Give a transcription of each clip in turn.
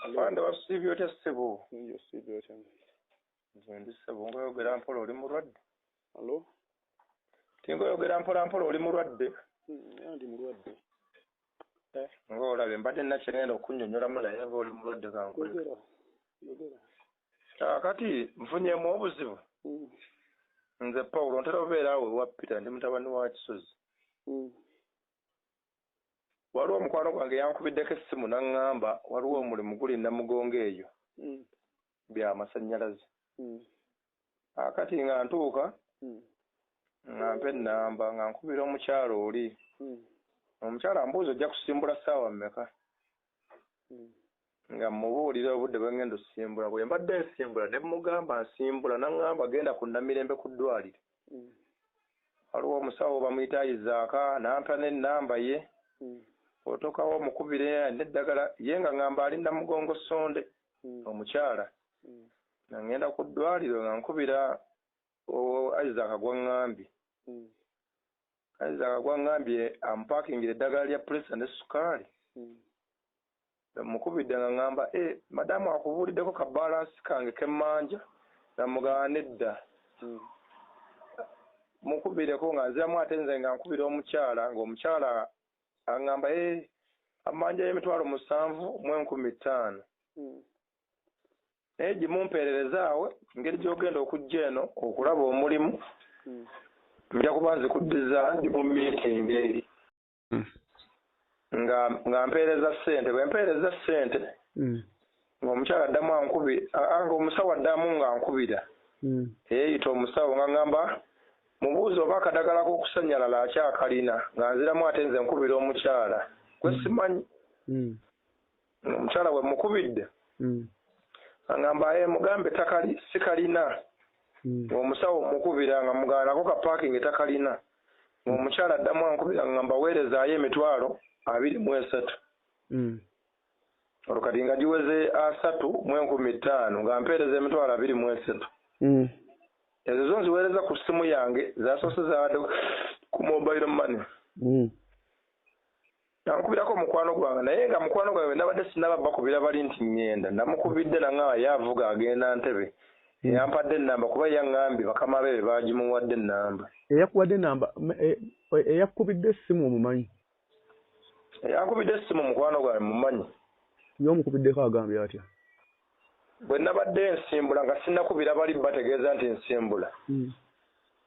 afande wasiibye otya ssebo nze siibye otya nze ndi ssebo ngaoyogera mpola oli mulwadde alo tingaoyogera mpola mpola oli mulwadde hmm, ndi mulwadde eh. ngaolabye mbadde nakyegenda okunyonyolamu naye nga oli mulwadde kankolera kakati nfunyemu obuzibu hmm. nze pawulo ntera obeera awo ewa peter ndi mutabani wa kisozi hmm. waliwo omukwano gwange yankubiddeko essimu n'aŋŋamba waliwo hmm. omulimu guli namugongo eyo hmm. bya masannyalaze hmm. akati nga ntuuka nga mpa ennamba nga nkubira omukyalo oli omukyalo ambuuza ojja kusimbula ssaawa mmeka nga mmubuulira obudde bwe ng'enda ossimbula. Bwe mbadde nsimbula ne mmugamba nsimbula n'ang'amba genda ku Namirembe ku ddwaaliro. Waliwo omusawo bamuyita Isaaka n'ampa n'ennamba ye. Bw'otuukawo omukubire alina eddagala. Ye ng'ang'amba ali Namugongo Ssonde omukyala. Nga ng'enda ku ddwaaliro nga nkubira Isaaka gw'ang'ambye. Kayinza nga gwangambye ampakingire eddagala lya pulesa ne sukaali. Bwe mmukubidde nga ngamba, Eh, madamu akubuuliddeko ka baalansi kange ke mmanja? Namugamba, Nedda. Mukubireko nga nziramu ate nze nga nkubira omukyala ng'omukyala angamba, Eh, ammanjayo emitwalo musanvu mu enkumi ttaano. naye gimumpeererezaawe ngeri gyogenda okujja eno okulaba omulimu hmm. nja kuba nzikuddiza ndi mu miitingi eri hmm. nga nga mpeereza ssente bwe mpeereza ssente hmm. ng'omukyala addamu ankubi nga omusawo addamu nga nkubira eyeeyita omusawo nga ngamba mubuuzi oba akadagala k'okusanyalala akyakalina nga nziramu ate nze nkubira omukyala gwe simanyi Omukyala bwe mmukubidde angamba ee mugambe ettaka sikalina ng'omusawo mmukubira nga mugamba nako ka paakinge takalina ng'omukyala addamu ankubira ngamba weerezaayo emitwalo abiri mu esatu olwo kati nga giweze asatu mu enkumi ttaano nga mpeereza emitwalo abiri mu esatu ezo zo nziweereza ku ssimu yange zasoose zaabadde ku mobile money Namukubirako omukwano gwange naye nga mukwano gwange nabadde sinaba bakubira bali nti ngenda. Namukubidde nangamba ye avuga agenda Ntebe. Eyampadde ennamba kuba yangambye bakama be be baagimuwadde ennamba. Eyakuwadde ennamba, eyakukubidde essimu omumanyi? Eyankubidde essimu mukwano gwange mmumanyi. Ye omukubiddeko agambye atya? Bwe nabadde nsimbula nga sinnakubira bali bategeeza nti nsimbula.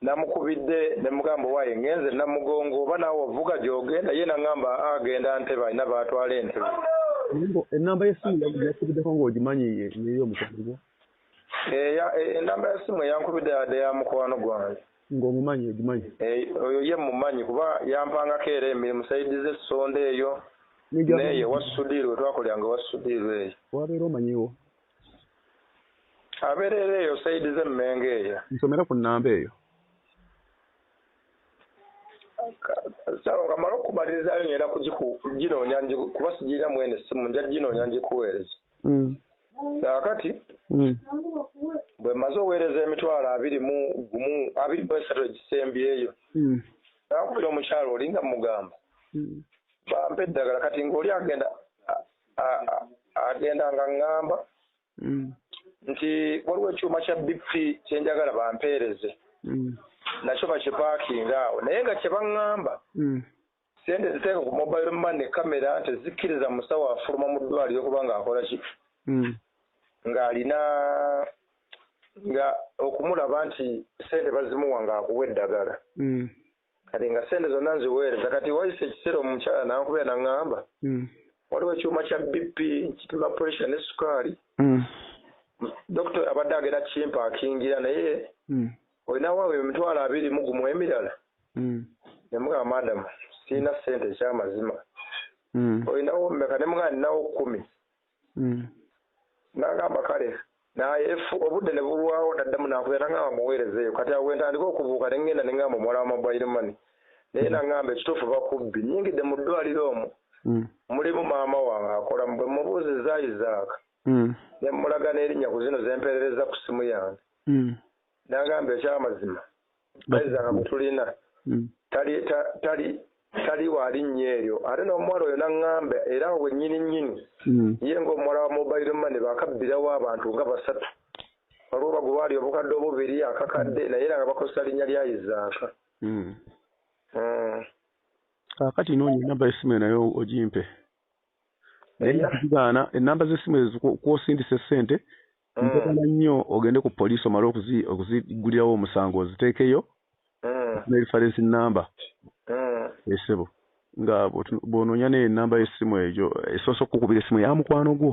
Namukubidde ne mugamba owaye ngenze Namugongo oba naawe ovuga gy'ogenda ye nangamba aa agenda Ntebe alina b'atwala e Ntebe. Naye mbu ennamba y'essimu yakubiddeko ng'ogimanyi ye y'omukwano gwo? Eya, e, ennamba y'essimu eyankubidde yabadde ya mukwano gwange. Nga omumanyi ogimanyi. Eeh oyo ye mmumanyi kuba yampangako era emirimu side ze Ssonda eyo neyo ewa Sudhir wetwakoleranga ewa Sudhir eyo. Wabeera omanyiwo? Abeera era eyo side ze Mmengo eyo. Nsomera ku nnamba eyo. Sawa nga mala okukumalirizayo ngenda kujinoonya kuba sijirina mweno essimu nja jinoonya njikuweereze. mm. kaakati mm. bwe mmaze oweereza emitwalo abiri mu gumu abiri mu esatu egisembyeyo mm. nakubira omukyalo oli nga mugamba bampa eddagala kati ngaoli agenda agenda nga ŋŋamba nti waliwo ekyuma kya bp kyenjagala bampeereze nakyo bakipaakinga awo naye nga kye baŋŋamba Ssente eziteeka ku mobile money kamera tezikkiriza musawo afuluma mu ddwaaliro kuba ng'akola ki hmm. ng'alina nga okumulaba nti ssente bazimuwa ng'akuwa eddagala hmm. kati nga ssente zonna nziweereza kati wayise ekiseera omukyala nankubira naŋŋamba hmm. waliwo ekyuma kya bp kipima pressure ne sukaali dokita abadde agenda kimpaakingira naye Oyo nawa we emitwalo abiri mu gumu emirala mm. ne mugamba madam sirina ssente ekyamazima mm. oyo nawo mmeka ne mugamba ninawo kkumi mm. nagamba kale naye obudde ne bulwawo naddamu nakuya nangamba muweereza eyo kati awo wentandika okubuuka ne ngenda ne ngamba omuwala wa mobile money naye nangamba ekituufu bakubbi nyingidde mu ddwaliro omu mm. mulimu maama wange akola bwe mubuuzi zaayizaaka mm. ne mulaga n'erinnya ku zino zempeerereza ku ssimu yange mm. N'agamba eky'amazima Bayiza nga gwe tulina hmm. tali waali nnyo eryo ate n'omuwala oyo n'aŋŋamba era awo wennyini nnyini hmm. ye ng'omuwala wa mobile money baakabbirawo abantu nga basatu waliwo bagulwali obukadde obubiri akakadde hmm. naye era nga bakozesa linnya lya izaaka kaakati noonya enamba y'essimu eyo naye ogimpe naye nzigaana ennamba z'essimu ezo kwosindisa essente eh. mpagala nnyo ogende ku poliisi omale okuzigulirawo omusango oziteekeyo eh. ne reference namba esebo eh. nga bwonoonya neyo enamba y'essimu egyo esoose okukukubira essimu ya mukwano gwo